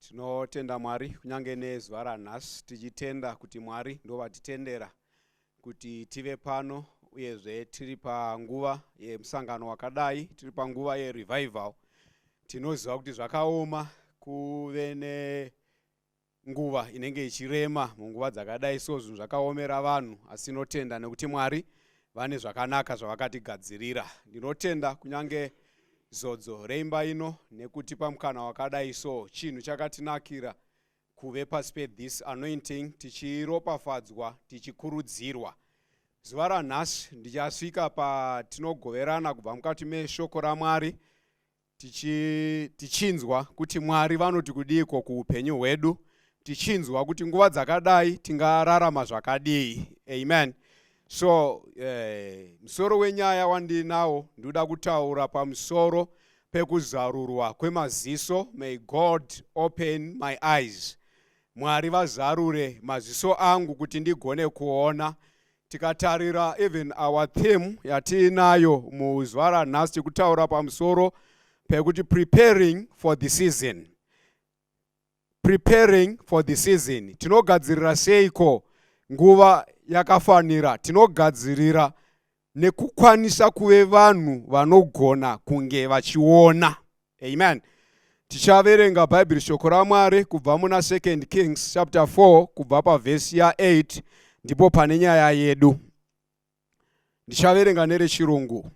tinotenda mwari kunyange nezuva ranhasi tichitenda kuti mwari ndovatitendera kuti tive pano uyezve tiri panguva yemusangano wakadai tiri panguva yerevival tinoziva kuti zvakaoma kuve ne nguva inenge ichirema munguva dzakadai so zvinhu zvakaomera vanhu asi tinotenda nekuti mwari vane zvakanaka zvavakatigadzirira ndinotenda kunyange zodzo reimba ino nekutipa mukana wakadai so chinhu chakatinakira kuve pasi pethis anointing tichiropafadzwa tichikurudzirwa zuva ranhasi ndichasvika patinogoverana kubva mukati meshoko ramwari tichi, tichinzwa kuti mwari vanoti kudiiko kuupenyu hwedu tichinzwa kuti nguva dzakadai tingararama zvakadii amen so eh, musoro wenyaya wandinawo ndinoda kutaura pamusoro pekuzarurwa kwemaziso may god open my eyes mwari vazarure maziso angu kuti ndigone kuona tikatarira even our theme yatiinayo muzuva ranhasi tikutaura pamusoro pekuti preparing for the season preparing for the season tinogadzirira seiko nguva yakafanira tinogadzirira nekukwanisa kuve vanhu vanogona kunge vachiona amen tichaverenga bhaibheri shoko ramwari kubva muna 2 kings chapter 4 kubva pavhesi ya8 ndipo pane nyaya yedu ndichaverenga nerechirungu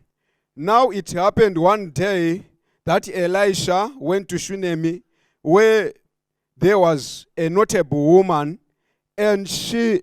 now it happened one day that elisha went to shunemi where there was a notable woman and she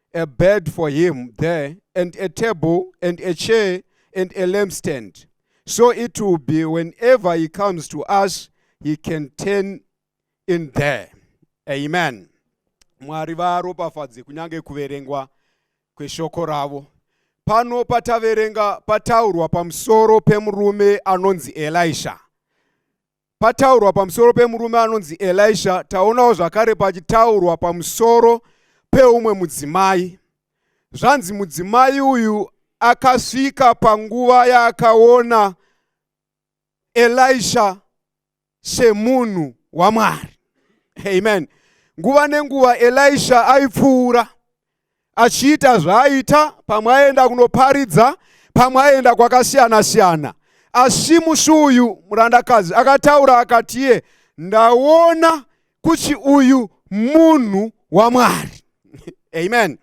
a bed for him there, and a table, and a chair, and a lampstand. So it will be whenever he comes to us, he can turn in there. Amen. Mwari varopafadze kunyange kuverengwa kweshoko ravo. Pano pataverenga pataurwa pamusoro pemurume anonzi Elisha. pataurwa pamusoro pemurume anonzi elisha taonawo zvakare pachitaurwa pamusoro peumwe mudzimai zvanzi mudzimai uyu akasvika panguva yaakaona elisha semunhu wamwari amen nguva nenguva elisha aipfuura achiita zvaaita pamwe aenda kunoparidza pamwe aenda kwakasiyana siyana asi musi uyu murandakadzi akataura akati iye ndaona kuti uyu munhu wamwari amen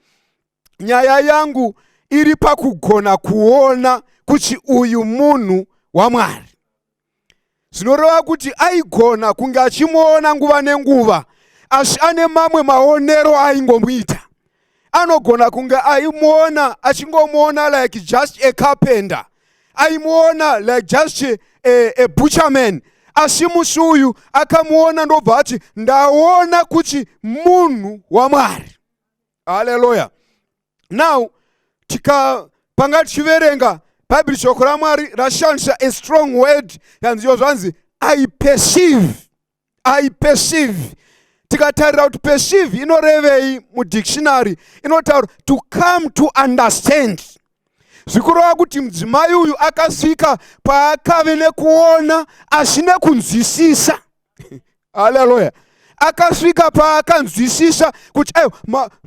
nyaya yangu iri pakugona kuona kuti uyu munhu wamwari zvinoreva kuti aigona kunge achimuona nguva nenguva asi ane mamwe maonero aingomuita anogona kunge aimuona achingomuona like just a carpenter aimuona like just a, a butcherman asi musi uyu akamuona ndobva ati ndaona kuti munhu wamwari haleluya now tika panga tichiverenga bhaibheri shoko ramwari rashandisa a strong word yanziyo zvanzi i perceive i perceive tikatarira kuti perceive inorevei mudictionary inotaura to come to understand zvikureva kuti mudzimai uyu akasvika paakave nekuona asi nekunzwisisa haleluya akasvika paakanzwisisa kuti ayo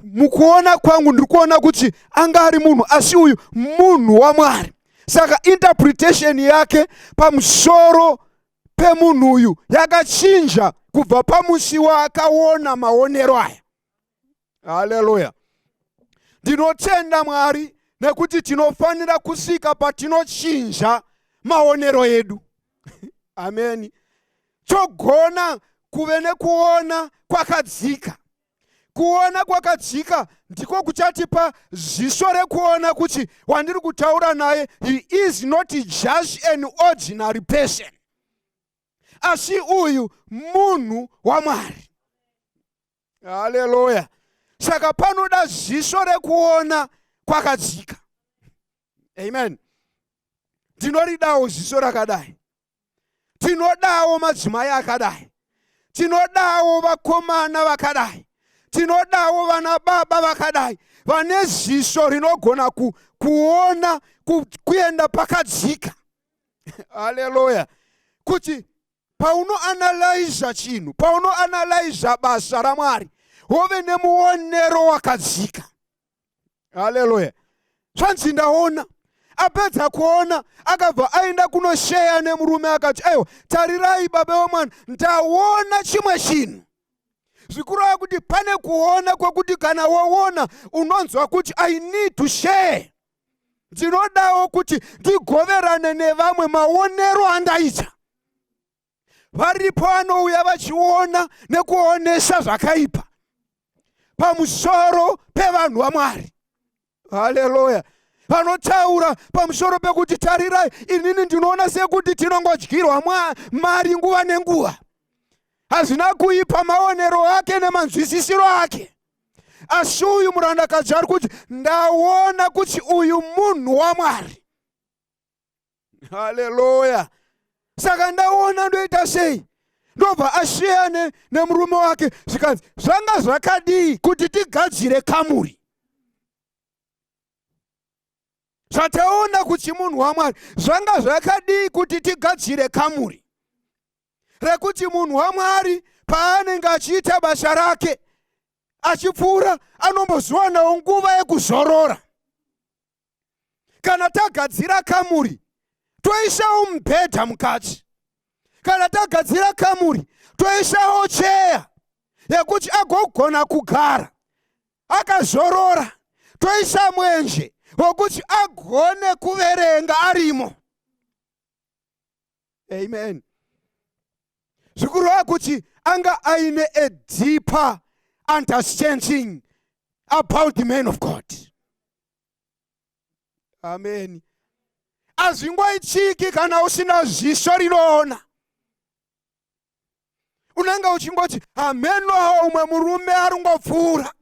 mukuona kwangu ndiri kuona kuti anga ari munhu asi uyu munhu wamwari saka interpretation yake pamusoro pemunhu uyu yakachinja kubva pamusi waakaona maonero aya haleluya ndinotenda mwari nekuti tinofanira kusvika patinochinja maonero edu ameni togona kuve nekuona kwakadzika kuona kwakadzika ndiko kuchatipa ziso rekuona kuti wandiri kutaura naye he is not just an ordinary person asi uyu munhu wamwari haleluya saka panoda ziso rekuona kwakadzika amen tinoridawo ziso rakadai tinodawo madzimai akadai tinodawo vakomana vakadai tinodawo vana baba vakadai vane ziso rinogona ku, kuona ku, kuenda pakadzika haleluya kuti paunoanalyza chinhu paunoanalyza basa ramwari wove nemuonero wakadzika haleluya zvanzi ndaona apedza kuona akabva aenda kunosheya nemurume akati aiwa tarirai baba wemwana ndaona chimwe chinhu zvikureva kuti pane kuona kwekuti kana woona unonzwa kuti i need to share ndinodawo kuti ndigoverane nevamwe maonero andaita varipo vanouya vachiona nekuonesa zvakaipa pamusoro pevanhu vamwari haleluya vanotaura pamusoro pekuti tarirai inini ndinoona sekuti tinongodyirwa mari nguva nenguva hazvina kuipa maonero ake nemanzwisisiro ake asi uyu murandakadzi ari kuti ndaona kuti uyu munhu wamwari haleluya saka ndaona ndoita sei ndobva asiyane nemurume wake zvikanzi zvanga zvakadii kuti tigadzire kamuri zvataona kuti munhu wamwari zvanga zvakadii kuti tigadzire kamuri rekuti munhu waMwari paanenge achiita basa rake achipfuura anombozviwanawo nguva yekuzorora. Kana tagadzira kamuri toisawo mubhedha mukati, kana tagadzira kamuri toisawo cheya yekuti agogona kugara akazorora, toisa mwenje wekuti agone kuverenga arimo. amen zvikureva kuti anga aine a deeper understanding about the man of god amen hazvingoitiki kana usina zviso rinoona unenge uchingoti hamenoa umwe murume aringopfuura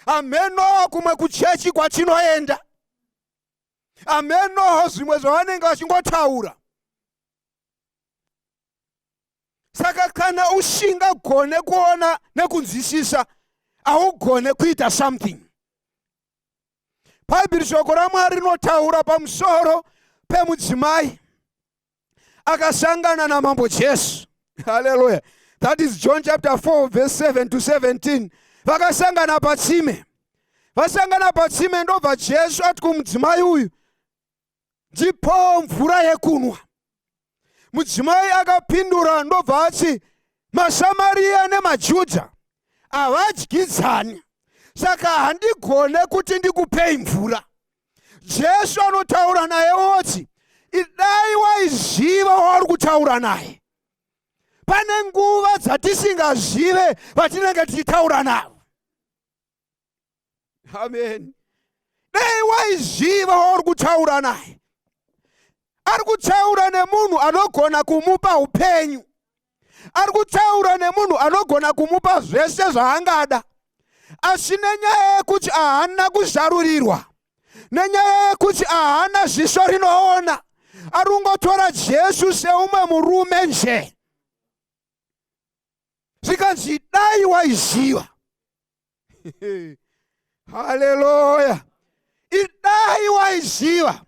hamenoa kumwe kuchechi kwatinoenda amenoho zvimwe zvavanenge vachingotaura saka kana usingagone kuona nekunzwisisa haugone kuita something bhaibheri shoko ramwari rinotaura pamusoro pemudzimai akasangana namambo jesu haleluya that is john chapter 4 verse 7 to 17 vakasangana patsime vasangana patsime ndobva jesu ati kumudzimai uyu ndipowo mvura yekunwa mudzimai akapindura ndobva ati masamariya nemajudha havadyidzani saka handigone kuti ndikupei mvura jesu anotaura naye oti idai waiziva wauri kutaura naye pane nguva dzatisingazive vatinenge tichitaura navo amen dai waiziva wauri kutaura naye ari kutaura nemunhu anogona kumupa upenyu ari kutaura nemunhu anogona kumupa zvese zvaangada asi nenyaya yekuti ahana kuzarurirwa nenyaya yekuti ahana ziso rinoona ari kungotora jesu seumwe murume nje zvikanzi dai waiziva haleluya idai waiziva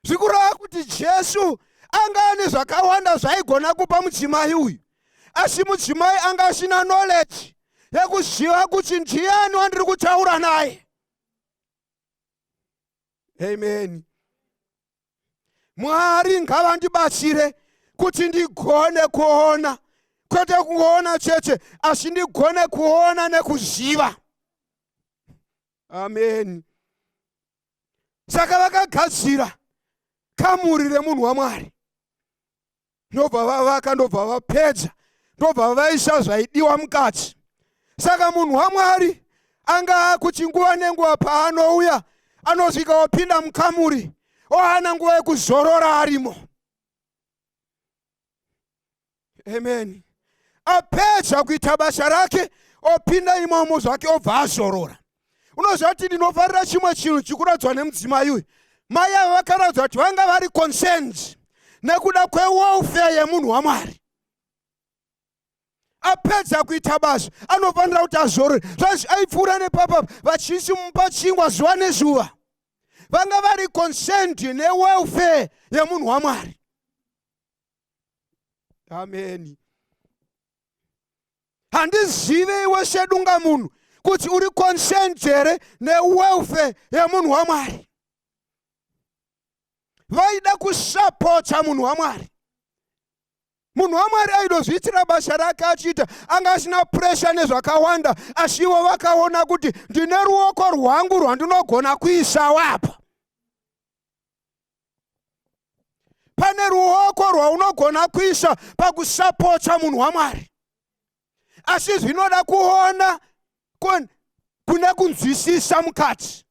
zvikureva kuti jesu anga ane zvakawanda zvaigona kupa mudzimai uyu asi mudzimai anga asina knowledge yekuziva kuti ndiani wandiri kutaura naye amen mwari ngavandibatsire kuti ndigone kuona kwete kungoona chete asi ndigone kuona nekuziva amen saka vakagadzira kamuri remunhu wamwari ndobva vavaka ndobva vapedza ndobva vaisa zvaidiwa mukati saka munhu wamwari anga akuti nguva nenguva paanouya anosvika wapinda mukamuri oana nguva yekuzorora arimo amen apedza kuita basa rake opinda imomo zvake obva azorora unoziva kuti ndinofarira chimwe chinhu chikuradzwa nemudzimai uyu mai avo vakaradzwa kuti vanga vari concerned nekuda kwewelfare yemunhu wamwari apedza kuita basa anofanira kuti azorore zvanzi aipfuura nepapa vachisi mupa chingwa zuva nezuva vanga vari concerned newelfare yemunhu wamwari ameni handizive iwe sedunga munhu kuti uri concerned here newelfare yemunhu wamwari vaida kusapota munhu wamwari munhu wamwari aidozviitira basa rake achiita anga asina puresha nezvakawanda asi ivo vakaona kuti ndine ruoko rwangu rwandinogona kuisawo apa pane ruoko rwaunogona kuisa pakusapotsa munhu wamwari asi zvinoda kuona kune kunzwisisa mukati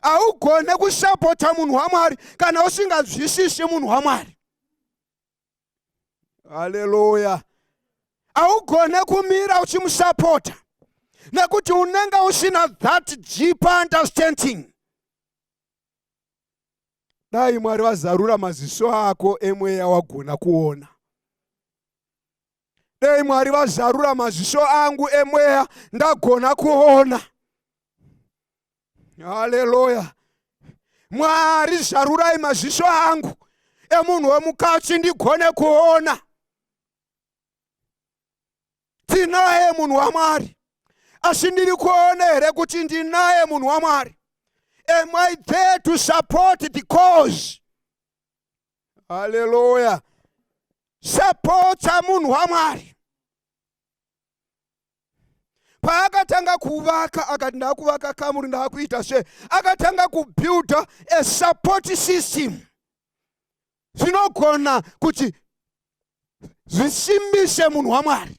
haugone kusapota munhu wamwari kana usinganzwisisi munhu wamwari haleluya haugone kumira uchimusapota nekuti unenge usina that deep understanding dai mwari vazarura maziso ako emweya wagona kuona dai mwari vazarura maziso angu emweya ndagona kuona haleluya mwari zarurai maziso angu emunhu wemukadzi ndigone kuona tinaye munhu wamwari asi ndiri kuona here kuti ndinaye munhu wamwari am i there to support the cause haleluya sapotsa munhu wamwari paakatanga kuvaka akati ndakuvaka kamuri ndakuita se akatanga kubuilda a support system zvinogona kuti zvisimbise munhu wamwari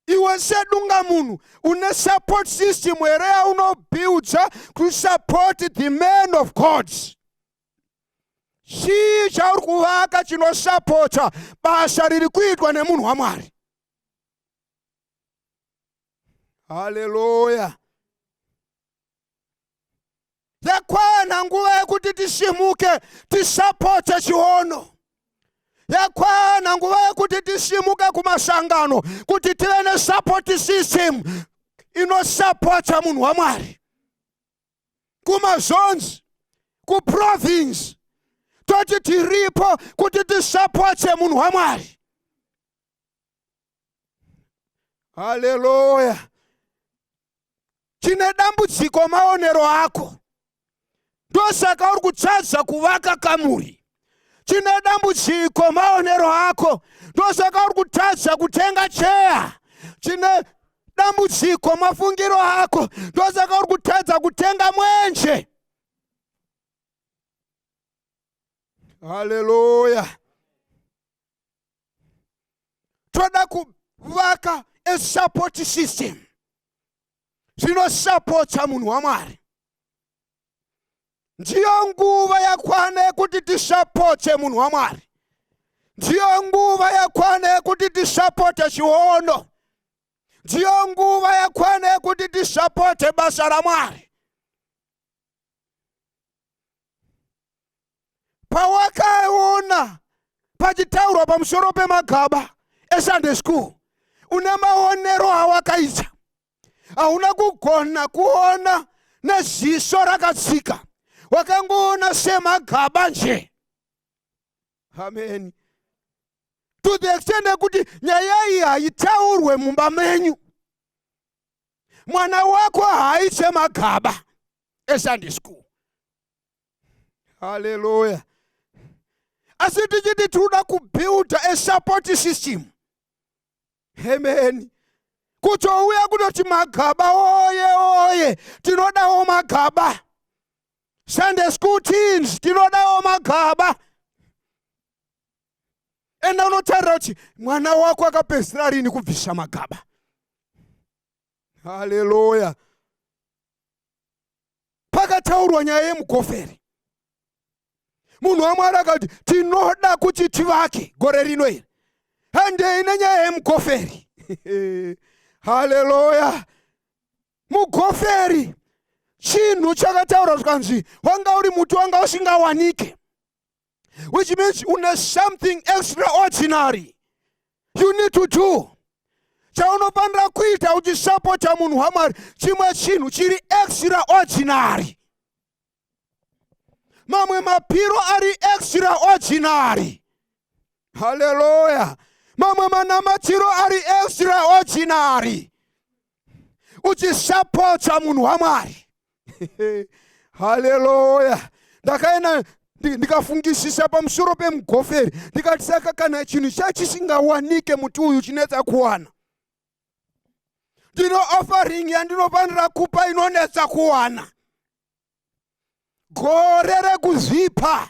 iwe sedunga munhu une support system here yaunobuilda to support the man of god chii chauri kuvaka chinosapota basa riri kuitwa nemunhu wamwari haleluya yakwana nguva yekuti tisimuke tisapotse chiono yakwana nguva yekuti tisimuke kumasangano kuti tive nesupport system inosapotsa munhu wamwari kumazonzi kuprovince toti tiripo kuti tisapotse munhu wamwari haleluya chine dambudziko maonero ako ndosaka uri kutadza kuvaka kamuri chine dambudziko maonero ako ndosaka uri kutadza kutenga cheya chine dambudziko mafungiro ako ndosaka uri kutadza kutenga mwenje haleluya toda kuvaka a support system zvinosapotsa munhu wamwari ndiyo nguva yakwana yekuti tisapotse munhu wamwari ndiyo nguva yakwana yekuti tisapote chiono ndiyo nguva yakwana yekuti tisapote basa ramwari pawakaona pachitaurwa pamusoro pemagaba esunday school une maonero awakaita hauna kugona kuona neziso rakatsika wakangoona semagaba nje ameni to the extent yekuti nyaya iyi haitaurwe mumba menyu mwana wako haaite magaba esunday school haleluya asi tichiti tinoda kubuilda a support system amen kutouya kutoti magaba oye oye tinodawo magaba sunday school teams tinodawo magaba enda unotarira kuti mwana wako akapedzisira rini kubvisa magaba haleluya pakataurwa nyaya yemukoferi munhu wamwari akati tinoda kuti tivake gore rino iri handei nenyaya yemukoferi haleluya mukoferi chinhu chakataura zvikanzi wanga uri muti wanga usingawanike which means une something extraordinary you need to do chaunofanira kuita uchisapota munhu wamwari chimwe chinhu chiri extraordinary mamwe mapiro ari extraordinary haleluya mamwe manamatiro ari extraordinary uchisapotsa munhu wamwari haleluya ndakaenda ndikafungisisa pamusoro pemugoferi ndikati saka kana chinhu chachisingawanike muti uyu chinetsa kuwana ndino offering yandinofanira kupa inonetsa kuwana gore rekuzvipa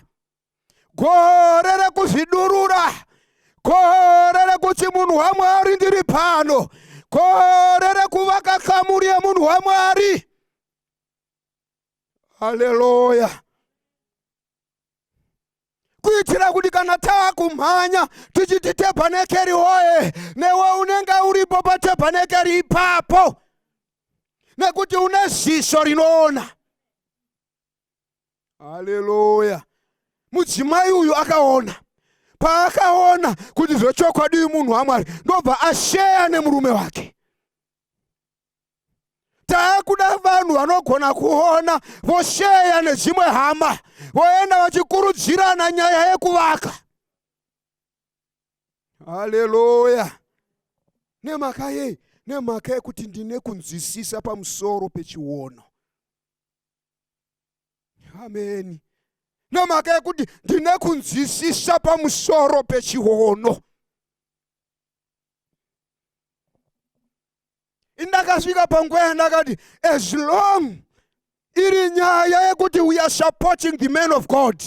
gore rekuzvidurura gore rekuti munhu wamwari ndiri pano gore rekuvaka kamuri yemunhu wamwari haleluya kuitira kuti kana taakumhanya tichiti tebhanekeri woye newe unenge uripo patebhanekeri ipapo nekuti une ziso rinoona haleluya mudzimai uyu akaona paakaona kuti zvechokwadi munhu wamwari ndobva asheya nemurume wake taakuda vanhu vanogona kuona vosheya nedzimwe hama voenda vachikurudzirana nyaya yekuvaka haleluya nemhaka yei nemhaka yekuti ndine kunzwisisa pamusoro pechiono ameni nemhaka yekuti ndine kunzwisisa pamusoro pechiono indakasvika panguva yandakati as long iri nyaya yekuti we are supporting the man of god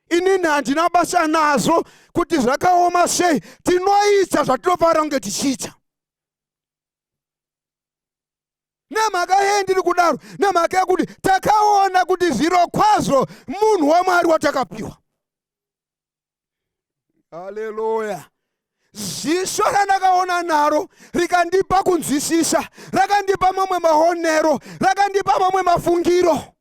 inini handina basa nazvo kuti zvakaoma sei tinoita zvatinofanira kunge tichiita nemhaka yei ndiri kudaro nemhaka yekuti takaona kuti zviro kwazvo munhu wamwari watakapiwa haleluya ziso randakaona naro rikandipa kunzwisisa rakandipa mamwe maonero rakandipa mamwe mafungiro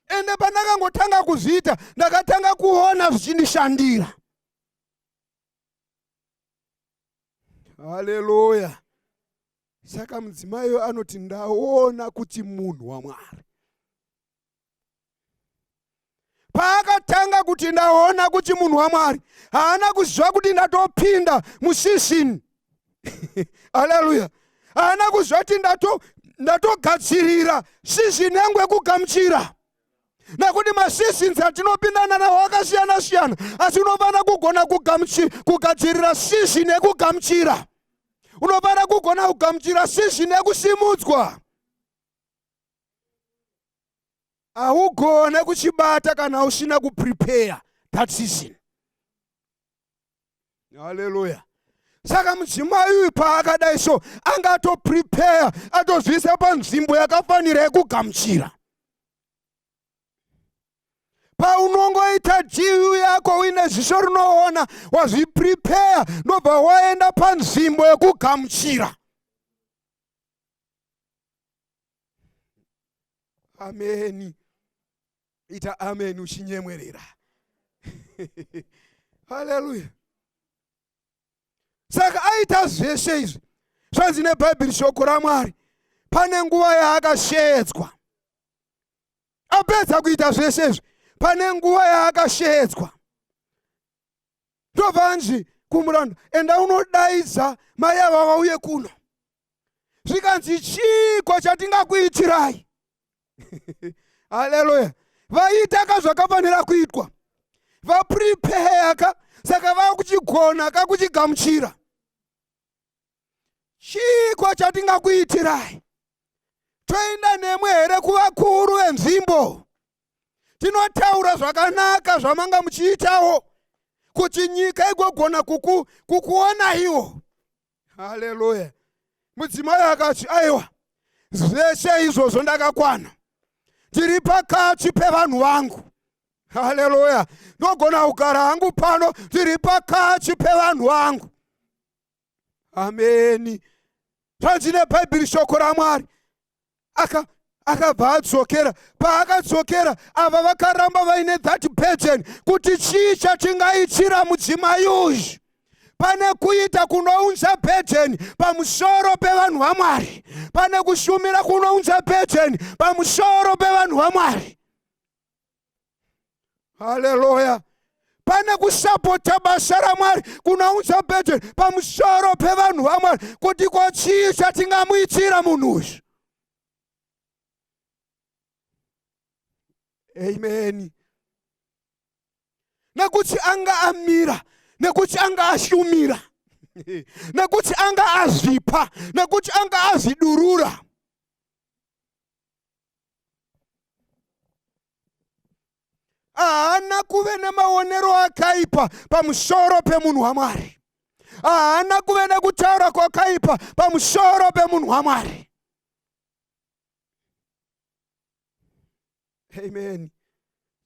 ende pandakangotanga kuzviita ndakatanga kuona zvichindishandira haleluya saka mudzimaiyo anoti ndaona kuti munhu wamwari paakatanga kuti ndaona kuti munhu wamwari haana kuziva kuti ndatopinda musizini aleluya haana kuziva kuti ndatogadzirira sizini yangu yekugamuchira nekuti masizins atinopindana nawo akasiyana siyana asi unofanira kugona kugadzirira sizini yekugamuchira unofanira kugona kugamuchira sizini yekusimudzwa haugone kuchibata kana usina kuprepare that season haleluya saka mudzimai uyu paakadai so anga atoprepare atozviisa panzvimbo yakafanira yekugamuchira paunongoita dvu yako uine ziso rinoona wazviprepare ndobva waenda panzvimbo yekugamuchira ameni ita ameni uchinyemwerera haleluya saka aita zveshe izvi zvanzi nebhaibheri shoko ramwari pane nguva yaakashedzwa apedza kuita zveshe izvi pane nguva yaakashedzwa ndovanzi kumuranda enda unodaidza mai ava vauye kuno zvikanzi chiiko chatingakuitirai haleluya vaita ka zvakafanira kuitwa vaprepeya ka saka vakuchigona ka kuchigamuchira chiiko chatingakuitirai toenda nemwe here kuvakuru venzvimbo tinotaura zvakanaka zvamanga muchiitawo kuti nyika igogona kuku, kukuonaiwo haleluya mudzimai akati aiwa zveshe izvozvo ndakakwana tiri pakati pevanhu vangu haleluya ndogona kugara hangu pano tiri pakati pevanhu vangu ameni zvanzi nebhaibheri shoko ramwari aka akabva adzokera paakadzokera ava vakaramba vaine that burden kuti chii chatingaitira mudzimai uyu pane kuita kunounza bhejeni pamusoro pevanhu vamwari pane kushumira kunounza bhejeni pamusoro pevanhu vamwari haleluya pane kusapota basa ramwari kunounza bheteri pamusoro pevanhu vamwari kuti ko chii chatingamuitira munhu uyu ameni nekuti anga amira nekuti anga ashumira nekuti anga azvipa nekuti anga azvidurura haana kuve nemaonero akaipa pamusoro pemunhu wamwari haana kuve nekutaura kwakaipa pamusoro pemunhu wamwari amen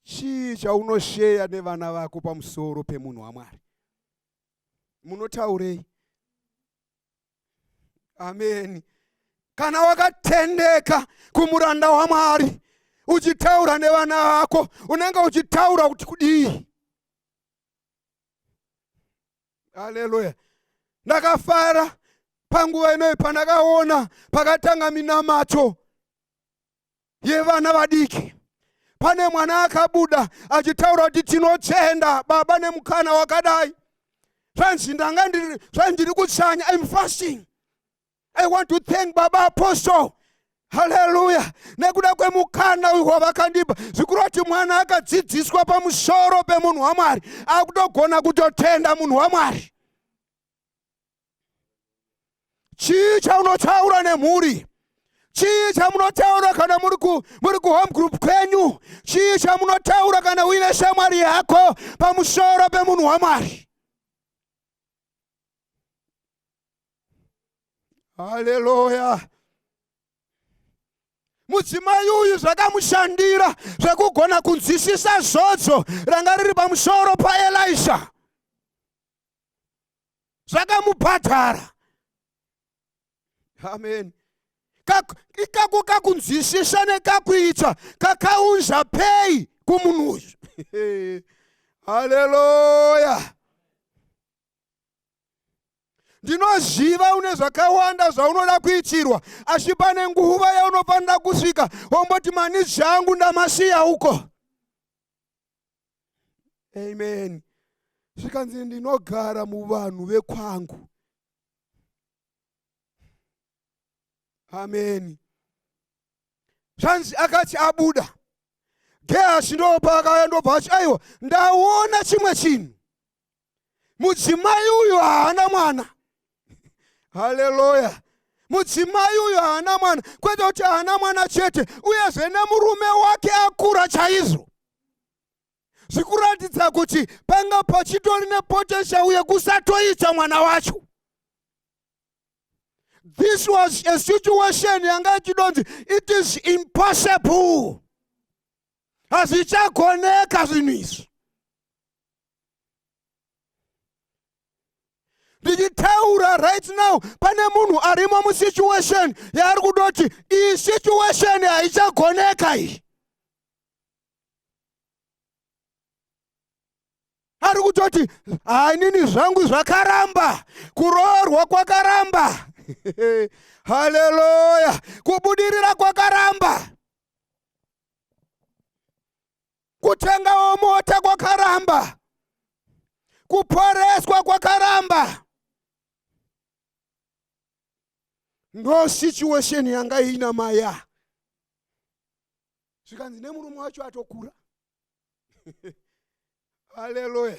chii chaunosheya nevana vako pamusoro pemunhu wamwari munotaurei ameni kana wakatendeka kumuranda wamwari uchitaura nevana vako unenge uchitaura kuti kudii haleluya ndakafara panguva inoyi pandakaona pakatanga minamato yevana vadiki pane mwana akabuda achitaura kuti tinochenda baba nemukana wakadai zvanzi ndanga ndiri zvanzi ndiri kutsanya im fasting i want to thank baba apostle haleluya nekuda kwemukana uyu wavakandipa zvikuru kuti mwana akadzidziswa pamusoro pemunhu wamwari akutogona kutotenda munhu wamwari chii chaunotaura nemhuri chii chamunotaura kana muri ku muri ku home group kwenyu chii chamunotaura kana uine shamwari yako pamusoro pemunhu wamwari haleluya mudzimai uyu zvakamushandira zvekugona kunzwisisa zvodzo ranga riri pamusoro paelisha zvakamubhadhara amen ikako kakunzwisisa nekakuita kakaunza pei kumunhu uyu haleluya ndinoziva une zvakawanda zvaunoda kuitirwa asi pane nguva yaunofanira kusvika womboti manidzi angu ndamasiya uko amen zvikanzi ndinogara muvanhu vekwangu ameni zvanzi akati abuda gehazi ndopaakaya ndobva achi aiwa ndaona chimwe chinhu mudzimai uyu haana mwana haleluya mudzimai uyu haana mwana kwete kuti haana mwana chete uyezve nemurume wake akura chaizvo zvikuratidza kuti panga pachitori nepotential yekusatoita mwana wacho this was a situation yanga ichidonzi it is impossible hazvichagoneka zvinhu izvi ndichitaura right now pane munhu arimo musituation yaari kuda kuti iyi situation haichagoneka iyi ari kutoti hainini zvangu zvakaramba kuroorwa kwakaramba haleluya kubudirira kwakaramba kutengawo mota kwakaramba kuporeswa kwakaramba ndo situation yanga iina maya zvikanzi nemurume wacho atokura haleluya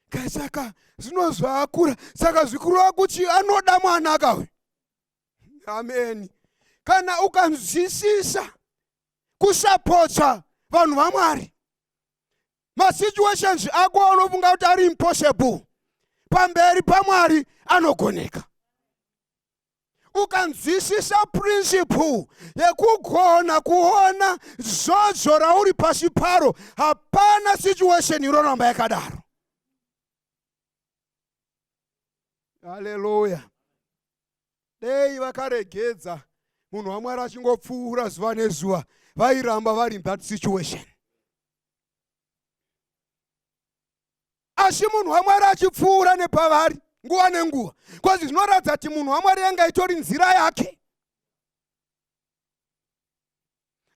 kai saka zvino zvaakura saka zvikurova kuti anoda mwana akawe ameni kana ukanzwisisa kusapotsa vanhu vamwari masituations ako aunofunga kuti ari impossible pamberi pamwari anogoneka ukanzwisisa principle yekugona kuona zodzo rauri pasi paro hapana situation inoramba yakadaro haleluya dei vakaregedza munhu wamwari achingopfuura zuva nezuva vairamba vari in that situation asi munhu wamwari achipfuura nepavari nguva nenguva bcause zvinoratidza kuti munhu wamwari yanga itori nzira yake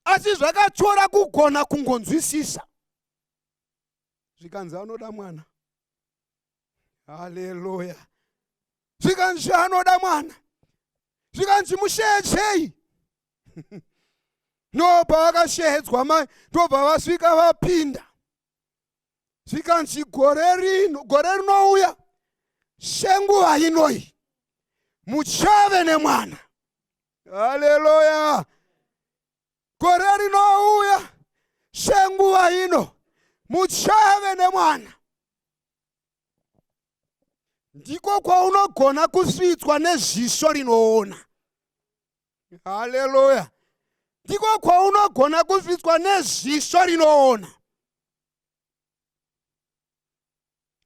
asi zvakatyora kugona kungonzwisisa zvikanzi anoda mwana haleluya zvikanzi anoda mwana zvikanzi musheedzei no pavakasheedzwa mai ndobva vasvika vapinda zvikanzi gore rino gore rinouya senguva inoi muchave nemwana haleluya gore rinouya senguva ino muchave nemwana ndiko kwaunogona kusvitswa neziso rinoona haleluya ndiko kwaunogona kusvitswa neziso rinoona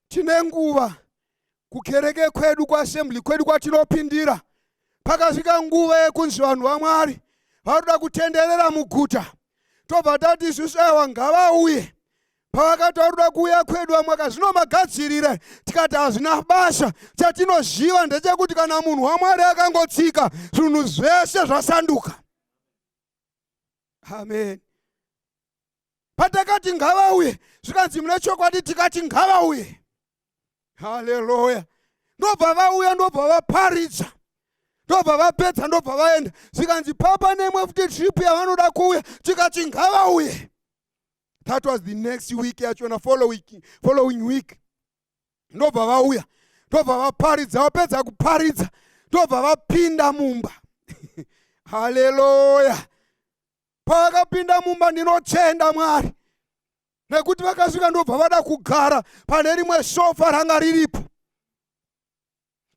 tine nguva kukereke kwedu kuassembly kwedu kwatinopindira pakasvika nguva yekunzi vanhu vamwari vanoda kutenderera muguta tobva tati isusu aiwa ngavauye pavakati varuda kuuya kwedu vamwe akazvinomagadzirire tikati hazvina basa chatinoziva ndechekuti kana munhu wamwari akangotsika zvinhu zvese zvasanduka amen patakati ngavauye zvikanzi mune chokwadi tikati ngavauye haleluya ndobva vauya ndobva vaparidza ndobva vapedza ndobva vaenda zvikanzi papa nemwe futi trip yavanoda kuuya tikati ngavauye that was the next week yachona following week ndobva vauya ndobva vaparidza vapedza kuparidza ndobva vapinda mumba haleluya pavakapinda mumba ndinotenda mwari nekuti vakasvika ndobva vada kugara pane rimwe sofa ranga riripo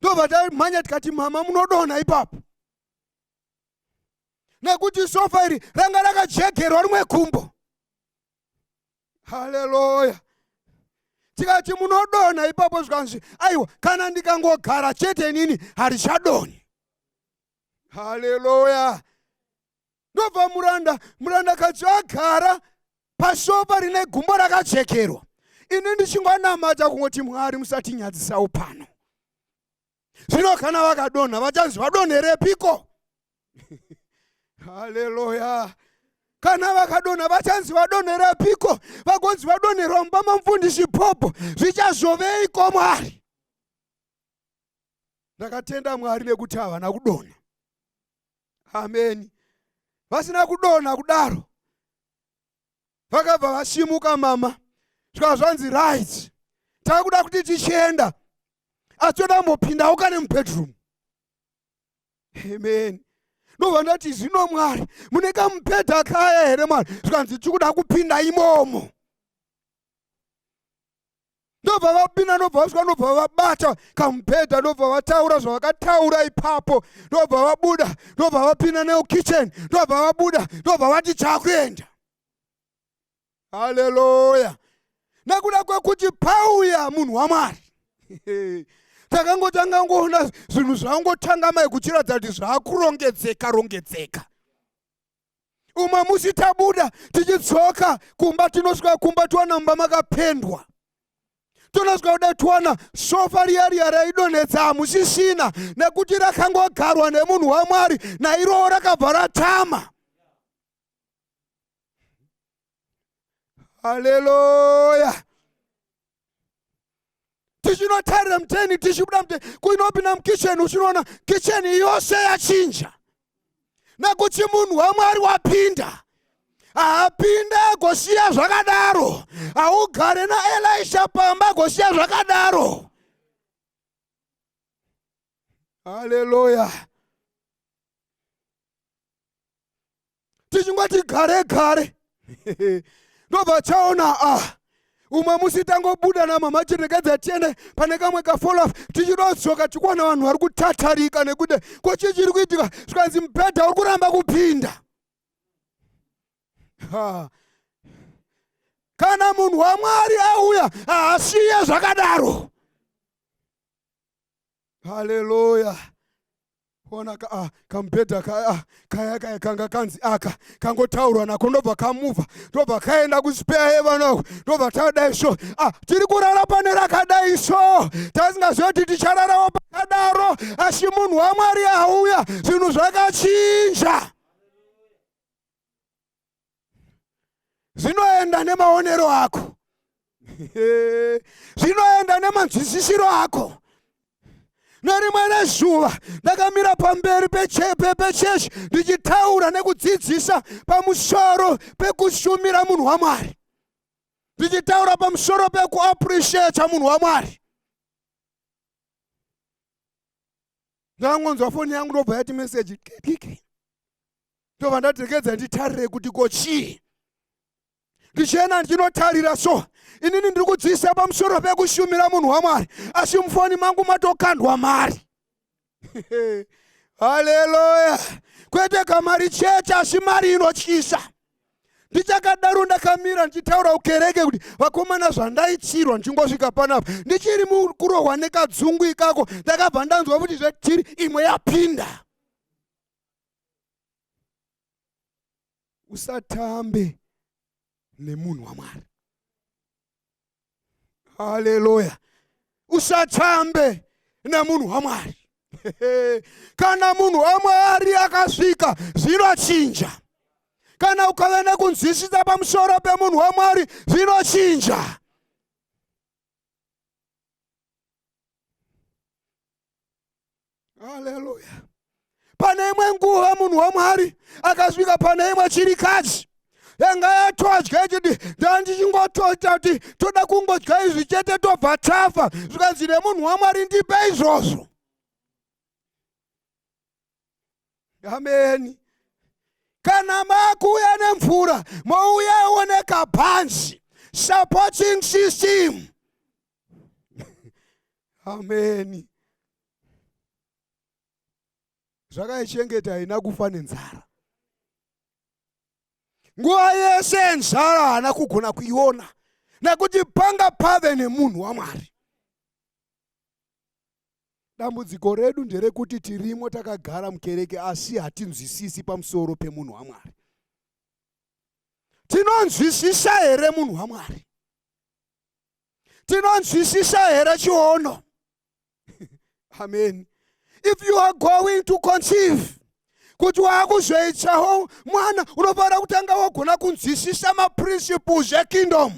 ndobva tamhanya tikati mama munodonha ipapo nekuti sofa iri ranga rakajegerwa rimwe kumbo haleluya tikati munodonha ipapo zvikanzi aiwa kana ndikangogara chete inini harichadoni haleluya ndobva muranda murandakadzi agara pasofa rine gumbo rakachekerwa ini ndichingonamata kungoti mwari musatinyadzisawo pano zvino kana vakadonha vachanzi vadonherepiko haleluya kana vakadonha vachanzi vadonherepiko vagonzi vadonherwa mumba mamufundisi popo zvichazoveiko mwari ndakatenda mwari nekuti havana kudonha ameni vasina kudonha kudaro vakabva vasimuka mama zvikava zvanzi right takuda kuti tichienda asi toda mbopindawo kane mubedroom amen ndobva ndati zvino mwari mune kamubhedha kaya here mwari zvikanzi tikuda kupinda imomo ndobva vapinda ndobva vasvika ndobva vabata kamubhedha ndobva vataura zvavakataura ipapo ndobva vabuda ndobva vapinda neukitchen ndobva vabuda ndobva vati chakuenda haleluya nekuda kwekuti pauya munhu wamwari takangotanga ngoona zvinhu zvangotanga mai kuchiratidza kuti zvakurongedzeka rongedzeka umwe musi tabuda tichidzoka kumba tinosvika kumba tiwana mumba makapendwa tonosvika kuda tiwana sofa riya riya raidonhedza hamusisina nekuti rakangogarwa nemunhu wamwari nairowo rakabva ratama haleluya tichinotarira muteni tichibuda muteni kuinopinda mukitchen uchinoona kitchen yose yachinja nekuti munhu wamwari wapinda haapinde agosiya zvakadaro haugare naelisha pamba agosiya zvakadaro haleluya tichingoti gare gare ndobva chaona ah umwe musi tangobuda namama chirekedza tiende pane kamwe kafolaf tichidodzoka tikuona vanhu vari kutatarika nekuti ko chii chiri kuitika zvikanzi mubhedha uri kuramba kupinda kana munhu wamwari auya haasiye zvakadaro haleluya ona ka, ah, kamubhedha kaya ah, kaya kaya kanga kanzi aka kangotaurwa nako ndobva kamuvha ndobva kaenda kuspare heaven uko ndobva tadai so ah, tiri kurara pane rakadai so tasingaziva kuti tichararawo pakadaro asi munhu wamwari auya zvinhu zvakachinja zvinoenda nemaonero ako zvinoenda nemanzwisisiro ako nerimwe rezuva ndakamira pamberi pecheshi ndichitaura nekudzidzisa pamusoro pekushumira munhu wamwari ndichitaura pamusoro pekuapreciata munhu wamwari ndangonzwa foni yangu ndobva yati meseji kikiki ndobva ndadekedza nditarire kuti ko chii ndichienda ndichinotarira so inini ndiri kudziisa pamusoro pekushumira munhu wamwari asi mufoni mangu matokandwa mari haleluya kwete kamari chete asi mari inotyisa ndichakadaro ndakamira ndichitaura kukereke kuti vakomana zvandaitsirwa ndichingosvika panapa ndichiri mukurohwa nekadzungu ikako ndakabva ndanzwa kuti zvetiri imwe yapinda usatambe nemunhu wamwari haleluya usatambe nemunhu wamwari kana munhu wamwari akasvika zvinochinja kana ukave nekunzwisisa pamusoro pemunhu wamwari zvinochinja haleluya pane imwe nguva munhu wamwari akasvika pane imwe chirikadzi yanga yatodya ichiti ndandichingotoita kuti toda kungodya izvi chete tobva tafa zvikanzi nemunhu wamwari ndipe izvozvo ameni kana makuuya nemvura mouya oneka bhanzi supporting system ameni zvakaichengeta haina kufa nenzara nguva yese yenzara haana kugona kuiona nekuti panga pave nemunhu wamwari dambudziko redu nderekuti tirimo takagara mukereke asi hatinzwisisi pamusoro pemunhu wamwari tinonzwisisa here munhu wamwari tinonzwisisa here chiono amen if you are going to conceive kuti waakuzoitsawo mwana unofanira kutanga wagona kunzwisisa maprinciples ekingdom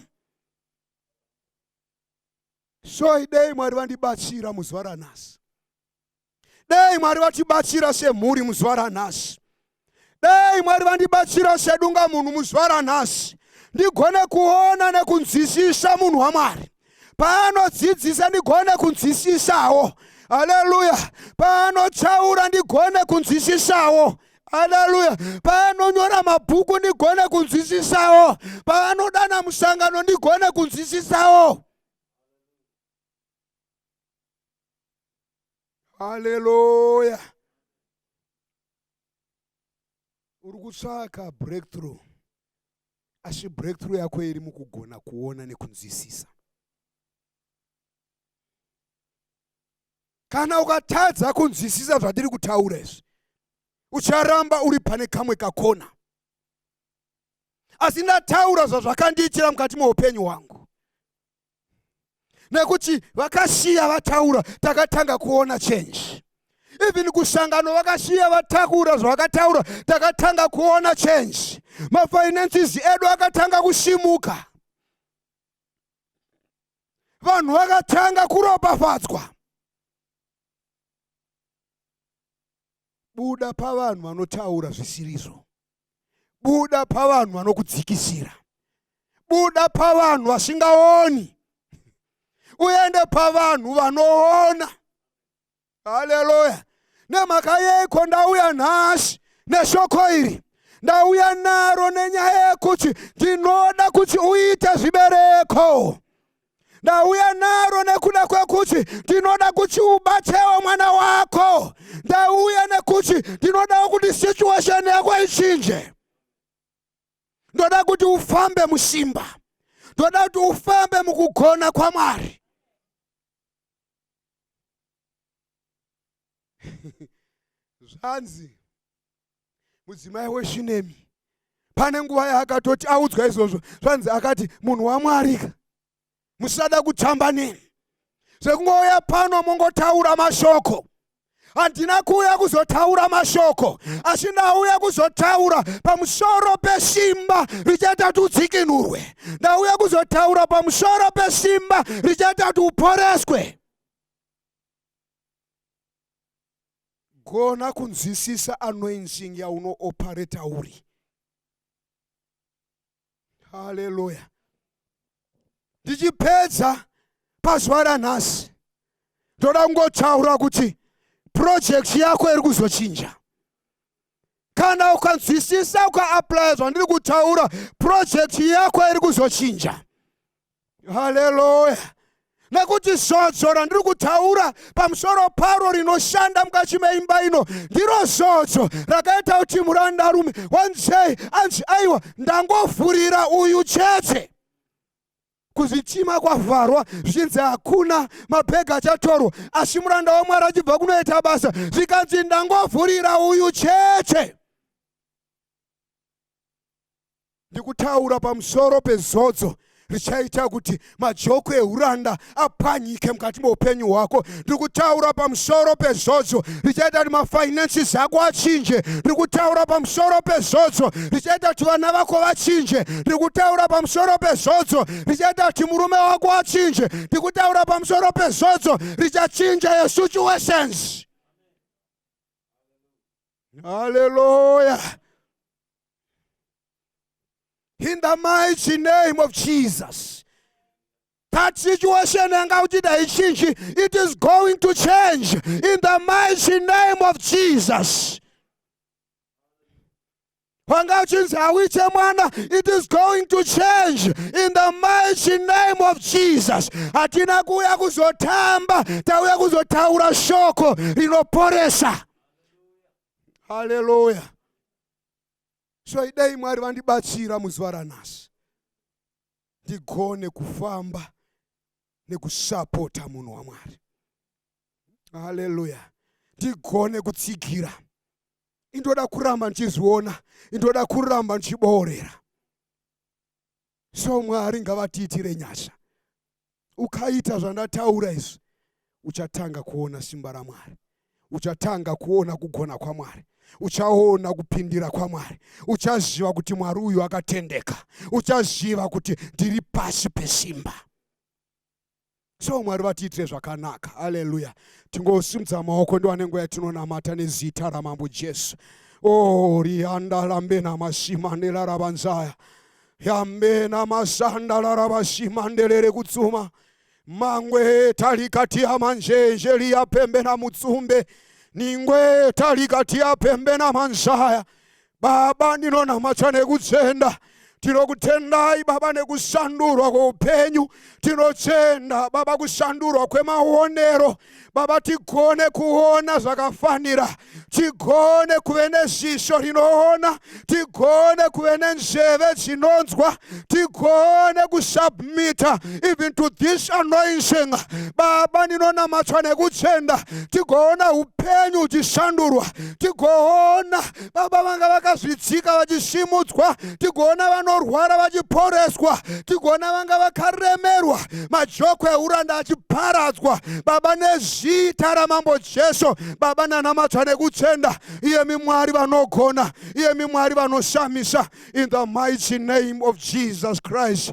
so idei mwari vandibatsira muzuva ranhasi dei mwari vatibatsira semhuri muzuva ranhasi dei mwari vandibatsira sedunga munhu muzuva ranhasi ndigone kuona nekunzwisisa munhu wamwari paanodzidzisa ndigone kunzwisisawo haleluya paanotaura ndigone kunzwisisawo haleluya paanonyora mabhuku ndigone kunzwisisawo paanodana musangano ndigone kunzwisisawo haleluya uri kutsvaka breakthrough asi breakthrough yako iri mukugona kuona nekunzwisisa kana ukatadza kunzwisisa zvatiri kutaura izvi ucharamba uri pane kamwe kakona asi ndataura zvazvakandiitira mukati meupenyu hwangu nekuti vakasiya vataura takatanga kuona change even kusangano vakasiya vatakura zvavakataura takatanga kuona change mafinances edu akatanga kusimuka vanhu vakatanga kuropafadzwa buda pavanhu vanotaura zvisirizvo buda pavanhu vanokudzikisira buda pavanhu vasingaoni uende pavanhu vanoona haleluya nemhaka yeiko ndauya nhasi neshoko iri ndauya naro nenyaya yekuti ndinoda kuti uite zvibereko ndauya naro nekuda kwekuti ndinoda kuti ubatewo mwana wako ndauya nekuti ndinodawo kuti situation yako ichinje ndoda kuti ufambe musimba ndoda kuti ufambe mukugona kwamwari zvanzi mudzimai weshunemi pane nguva yaakatoti audzwa izvozvo zvanzi akati munhu wamwarika musada kutamba neni zvekungouya pano mongotaura mashoko handina kuuya kuzotaura mashoko asi ndauya kuzotaura pamusoro pesimba richaita ti udzikinurwe ndauya kuzotaura pamusoro pesimba richaita ti uporeswe Gona kunzwisisa anointing yaunooperator uri. Haleluya. Ndichipedza pazuva ranhasi ndoda kungotaura kuti project yako iri kuzochinja. kana ukanzwisisa ukaaplaya zvandiri kutaura purojekti yako iri kuzochinja haleluya nekuti zodzo randiri kutaura pamusoro paro rinoshanda mukati meimba ino ndiro zodzo rakaita kuti murandarume wanzei anzi aiwa ndangovhurira uyu chete kuzvitima kwavharwa zvichinzi hakuna mabhegi achatorwa asi muranda wamwari achibva kunoita basa zvikanzi ndangovhurira uyu chete ndikutaura pamusoro pezodzo richaita kuti majoko euranda apwanyike mukati meupenyu hwako ndiri kutaura pamusoro pezodzo richaita kuti mafinances ako achinje ndiri kutaura pamusoro pezodzo richaita kuti vana vako vachinje ndiri kutaura pamusoro pezodzo richaita kuti murume wako achinje ndiri kutaura pamusoro pezodzo richachinja your situations haleluya in the mighty name of jesus That situation yanga uchida haichinji. It is going to change in the mighty name of Jesus. Wanga uchinzi hauite mwana. It is going to change in the mighty name of Jesus. Hatina kuuya kuzotamba, tauya kuzotaura shoko rinoporesa. Hallelujah. So idei Mwari vandibatsira muzuva ranhasi. ndigone kufamba nekusapota munhu wamwari haleluya ndigone kutsigira indoda kuramba ndichizviona indoda kuramba ndichiboorera so mwari ngavatiitire nyasha ukaita zvandataura izvi uchatanga kuona simba ramwari uchatanga kuona kugona kwamwari uchaona kupindira kwamwari uchaziva kuti mwari uyu akatendeka uchaziva kuti ndiri pasi pesimba so mwari vatiitire zvakanaka haleluya tingosimudza maoko ndiwane nguva yatinonamata nezita ramambo jesu o oh, rianda rambe namasimandela ravanzaya yambe namasanda laravasimandelere kutsuma oh, mangwe talikatia manjenje liya pembe na mutsumbe ningwe talikatia pembe na manzaya baba ndinonamata nekutsvenda tinokutendai baba nekushandurwa kweupenyu tinotenda baba kushandurwa kwemaonero Baba, tigone kuona zvakafanira, tigone kuve nezvisho rinoona, tigone kuve nenzveve dzinonzwa, tigone kusubmita even to this anointing. Baba, ndinonamatwa nekuchenda, tigoona upenyu uchishandurwa, tigoona baba vanga vakazvidzika vachisimudzwa tigoona vanorwara vachiporeswa tigoona vanga vakaremerwa majoko euranda achiparadzwa baba nezita ramambo jesu baba nanamata nekutenda iyemi mwari vanogona iyemi mwari vanoshamisa in the mighty name of jesus christ